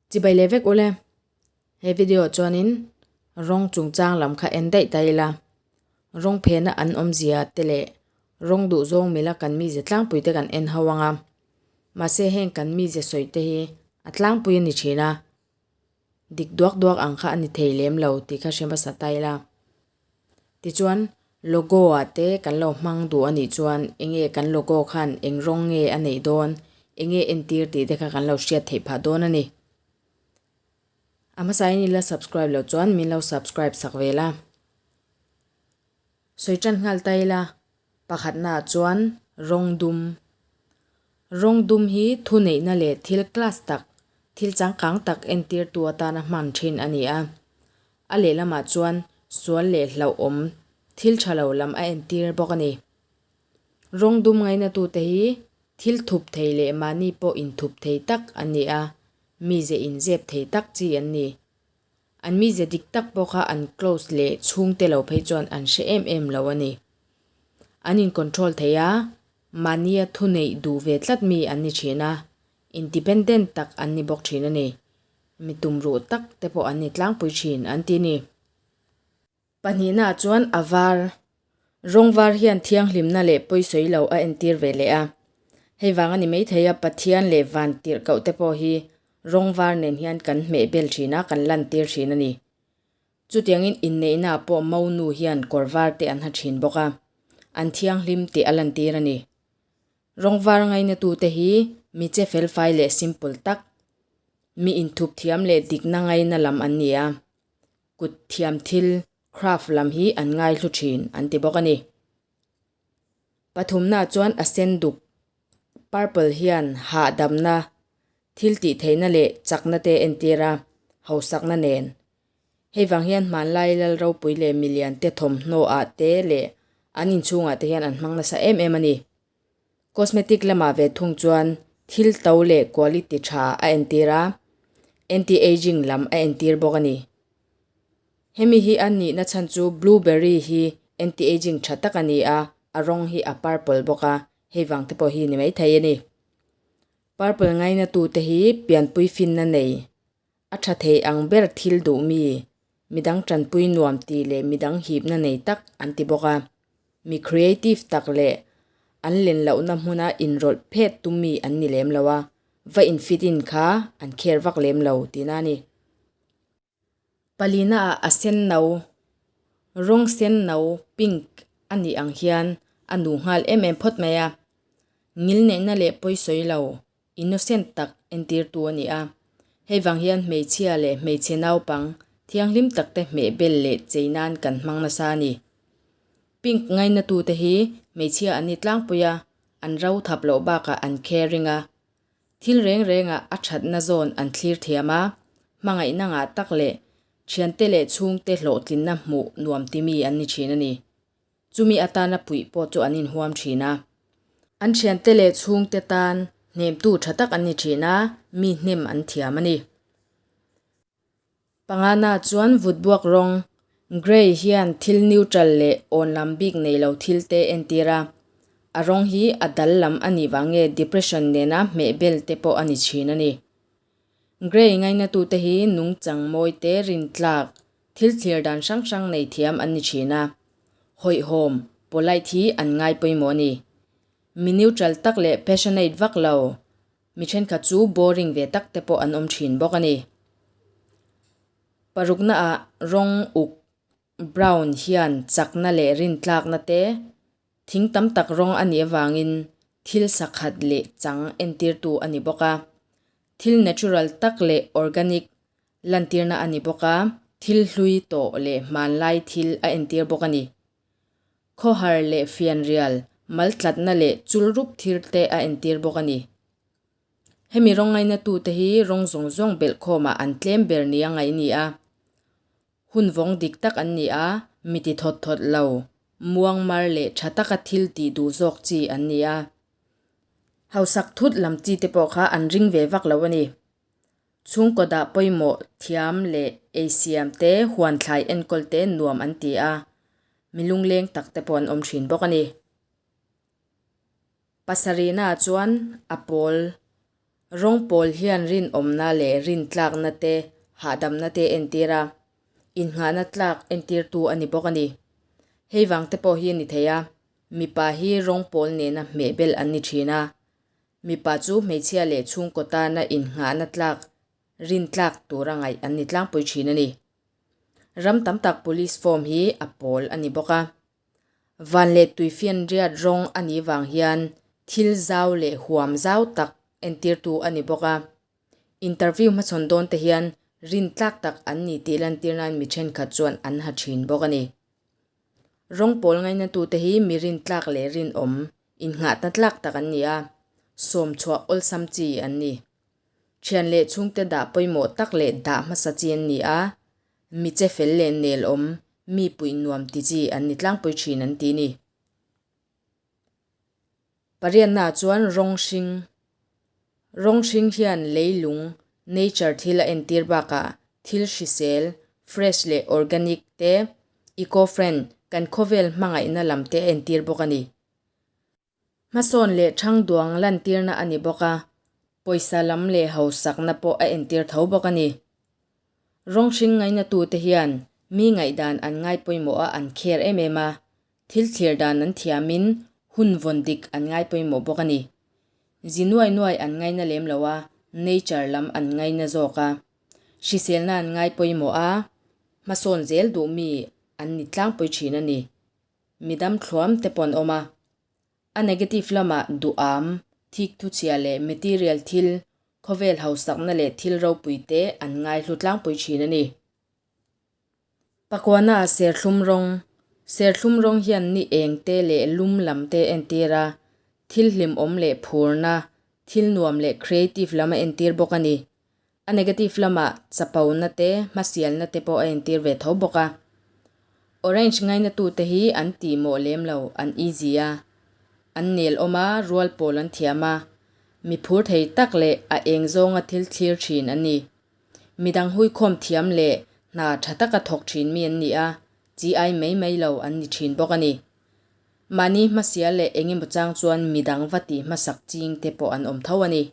Chi bai leh vek ule. He video chuanin rawng chungchang lam kha en daih ta ila, rawng phena an awmzia te leh rawng duh zawng mila kan mize tlangpui te kan en ho ang a. Mahse heng kan mize sawi te hi a tlangpui a ni thin a. dik duak duak ang kha a ni thei lem lo tih kha hre hmasa ta ila. Tichuan logo ah te kan lo hmang duh a nih chuan eng nge kan logo khan eng rawng nge a neih dawn, eng nge entir tih te kha kan lo hriat theih phah dawn a ni. A hmasa in i la subscribe loh chuan min lo subscribe sak ve la. Sawi tan nghal ta ila. Pakhatnaah chuan rawng dum. Rawng dum hi thuneihna leh thil class tak, thil changkang tak entirtu atana hman thin a ni a. A lehlamah chuan sual leh hlauhawm thil tha lo lam a entir bawk a ni. Rawng dum ngainatute hi thil thup thei leh mahni pawh inthup thei tak an ni a, mi zeh inzep thei tak chi an ni. An mize dik tak bawk a, an close leh chhung te lo phei chuan an hre em em lo a ni. An in control thei a, mania thu neih duh ve tlat mi an ni thin a, independent tak an ni bawk thin a ni. Mi tumruh tak te pawh an ni tlangpui thin an ti a ni. Pahnihnaah chuan a var, rawng var hian thianghlimna leh pawisawi lo a entir ve leh a. Hei vang a ni maithei a, Pathian leh van tirhkoh te pawh hi rawng var nen hian kan hmehbel thin a, kan lantir thin a ni. Chutiangin inneihnaah pawh Mo nu hian kawr var te an ha thin bawk a, an thianghlim tih a lantir a ni. Rawng var ngainatute hi mi che felfai leh simple tak, mi inthup thiam leh dikna ngaina lam an ni a. kut thiam thil, craft, lam hi an ngaihlu thin an ti bawk a ni. Pathumnaah chuan a sen duk, purple, hian hahdamna, thil tih theihna leh chakna te entir a, hausakna nen. Hei vang hian hmanlai lal ropui leh milian te thawmhnaw ah te leh an inchhung ah te hian an hmang nasa em em a ni. Cosmetic lamah ve thung chuan thil to leh quality tha a entir a, anti aging lam a entir bawk a ni. Hemi hi a nihna chhan chu blueberry hi anti aging tha tak a ni a, a rawng hi a purple bawk a, hei vang te pawh hi ni mai thei a ni. Purple ngaina tu te hi pianpui finna nei. A tha theih ang ber thil duhmi, midang tanpui nuam ti leh midang hipna nei tak an ti bawk a. Mi creative tak leh an len lohna hmuna inrawlh phet tummi an ni lem lo a, va in fit in kha an care vak lem lo ti na a ni. Palina ah a senno, rawng senno, pink, a nih ang hian a nuh nghal em em phawt mai a. Ngil neihna leh pawi sawi lo, innocent tak entirtu a ni a. Hei vang hian hmeichhia leh hmeichhe naupang thianghlim takte hmeh bel leh chei nan kan hmang nasa a ni. Pink ngaina tute hi hmeichhia an ni tlangpui a, an ro thap loh bakah an caring a, thil reng rengah a thatna zawn an thlir thiam a, hmangaihna ngah tak leh thiante leh chhungte hlawhtlinna hmuh nuam timi an ni thin a ni. chumi atana puih pawh chu an inhuam thin a. An thiante leh chhungte tan hnemtu tha tak an ni thin a, mi hnem an thiam a ni. Pangana chuan vut buak rawng Grey hian thil neutral leh awn lam bik nei lo thil te entir a, a rawng hi a dal lam a nih vang nge depression nena hmeh bel te pawh a ni thin a ni. Gray ngaihnatute hi nungchang mawite, rintlak, thil thlir dan hrang hrang nei thiam an ni thin a. Hawihhawm, polite, hi an ngai pawimawh a ni. Mi neutral tak leh passionate vak lo mi thenkhat chu boring ve tak te pawh an awm thin bawk a ni. Paruknaah rawng uk, brown, hian chakna leh rintlakna te Thing tam tak rawng a nih avangin thil sakhat leh chang entirtu a ni bawk a. Thil natural tak leh organic lantirna a ni bawk a, thil hlui tawh leh hmanlai thil a entir bawk a ni. Khawhar leh fianrial, mal tlatna leh chul rup thir te a entir bawk a ni. Hemi rawng ngainatute hi rawng zawng zawng belhkhawmah an tlem ber nia ngaih ni a. hun vawng dik tak an ni a, mi ti thawt thawt lo, muangmar leh tha taka thil tih duh zawk chi an ni a. Hausak thut lam chi te pawh kha an ring ve vak lo a ni. Chhungkawtah pawimawh thiam leh ei siam te, huan thlai enkawl te nuam an ti a, mi lungleng tak te pawh an awm thin bawk a ni. Pasarihna ah chuan a pawl rawng pawl hian rinawmna leh rintlakna te hahdamna te entir a, innghahna tlak entir tu a ni bawk a ni. Hei vang te pawh hi ni thei a, mipa hi rawng pawl nena hmeh bel an ni thin a, mipa chu hmeichhia leh chhungkaw tana innghahna tlak rintlak tur a ngaih an ni tlangpui thin a ni. Ram tam tak police form hi a pawl a ni bawk a. Van leh tui fianriat rawng a nih vang hian thil zau leh huam zau tak entirtu a ni bawk a. Interview hmachhawn dawnte hian rin tlak tak an ni tih lantir nan mi thenkhat chuan an ha thin bawk a ni. Rawng pawl ngainatute hi mi rin tlak leh rin awm innghahna tlak tak an ni a, sawmchhuah awlsam chi an ni. Thian leh chhungte dah pawimawh tak leh dah hmasa chi an ni a, Mi che fel leh nelawm, mi puih nuam ti chi an ni tlangpui thin an ti ni. Pariatnaah chuan rawng hring, Rawng hring hian leilung, nature, thil a entir bakah thil hrisel, fresh leh organic, te, eco-friend, kan khawvel hmangaihna lam te a entir bawk a ni. Hmasawn leh Thangduang lantirna a ni bawk a, pawisa lam leh hausakna pawh a entir tho bawk a ni. Rawng hring ngainatute hian mi ngaihdan an ngaipawimawha an kher em em a, thil thlir dan an thiamin hun vawn dik an ngaipawimawh bawk a ni. Zi nuai nuai an ngaina lem lo a, nature lam an ngaina zawk a, hriselna an ngaipawimawh a, hmasawn zel duh mi an ni tlangpui thin a ni, midam thluam te paw'n awm a. A negative lama duham, thik thuchhia leh material thil, khawvel hausakna leh thil ropui te an ngaihlu tlangpui thin a ni. Pakuana ah serthlum rawng, Serthlum rawng hian ni eng te leh lum lam te entir a, thil hlimawm leh phurna, thil nuam leh creative lam a entir bawk a ni. A negative lama chapona te hmasialna te pawh a entir ve tho bawk a. Orange ngainatute hi an tih mawh lem lo, an easy a, an nelawm a, rual pawl an thiam a, miphur thei tak leh a eng zawnga thil thlir thin an ni. Midang huikhawm thiam leh hna tha taka thawk thin mi an ni a, chi ai mai mai lo an ni thin bawk a ni. Mahni hmasial leh engemaw chang chuan midang va tih hmasak chingte pawh an awm tho a ni.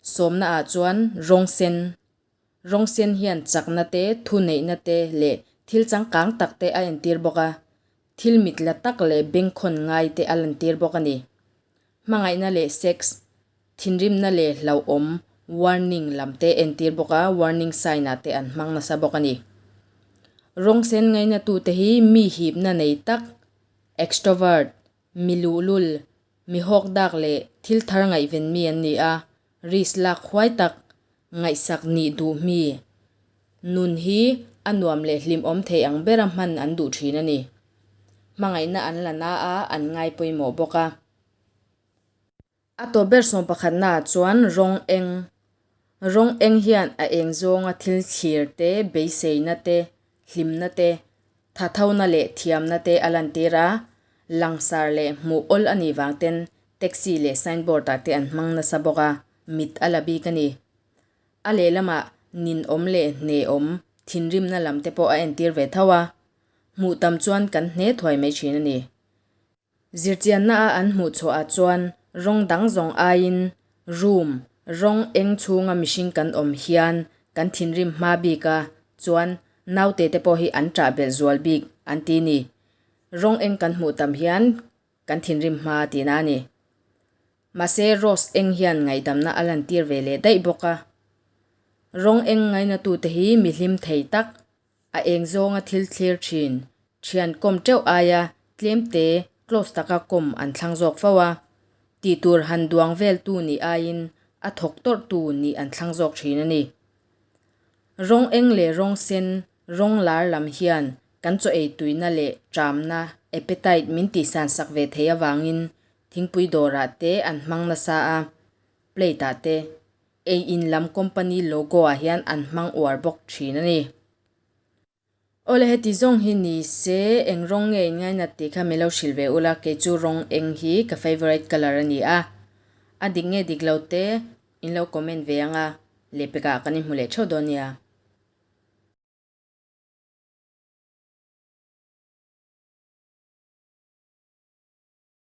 Sawmna ah chuan rawng sen, Rawng sen hian chakna te, thu neihna te leh thil changkang tak te a entir bawk a, thil mit la tak leh bengkhawn ngai te a lantir bawk a ni. Hmangaihna leh sex, thinrimna leh hlauhawm warning lam te entir bawk a, warning sign ah te an hmang nasa bawk a ni. Rawng sen ngaina tu te hi mi hipna nei tak, extrovert, mi luhlul, mi hawkdak leh thil thar ngaihven mi an ni a, risk lak huai tak, ngaihsak nih duh hmi, nun hi a nuam leh hlim awm theih ang bera hman an duh thin a ni. Hmangaihna an la na a, an ngai pawimawh bawk a. A tawp ber sawng pakhatnaah chuan rawng eng. Rawng eng hian a eng zawnga thil thlir te, beiseina te, hlimna te, thathona leh thiamna te a lantir a, langsar leh hmuh awl a nih vang ten taxi leh signboard-ah te an hmang nasa bawk a, mit a la bik a ni. A lehlamah nin awm leh hne awm thinrimna lam te pawh a entir ve tho a, hmuh tam chuan kan hne thuai mai thin a ni. Zirchianna a an hmuh chhuah ah chuan rawng dang zawng aiin room, rawng eng chhunga mihring kan awm hian kan thinrim hma bik a, chuan naute te pawh hi an ṭah belh zual bik an ti ni. Rawng eng kan hmuh tam hian kan thinrim hma ti na a ni. Mahse rose eng hian ngaihdamna a lantir ve leh daih bawk a. Rawng eng ngainatute hi mihlim thei tak A eng zawnga thil thlir thin. Thian kawm teuh aia tlemte close taka kawm an thlang zawk fo a. Tih tur han duang vel tu nih aiin a thawk tawrh tu nih an thlang zawk thin a ni. Rawng eng leh rawng sen, rawng lar lam hian kan chaw ei tuina leh ṭamna, appetite, min tihsan sak ve thei avangin thingpui dawrah te an hmang nasa a, plate-ah te, ei in lam company logo ah hian an hmang uar bawk thin a ni. Awle heti zawng hi ni se, eng rawng nge in ngaina tih kha min lo hrilh ve ula, kei chu rawng eng hi ka favourite colour a ni a, a dik nge dik lo te in lo comment ve ang a, lepek ah kan inhmu leh theuh dawn nia.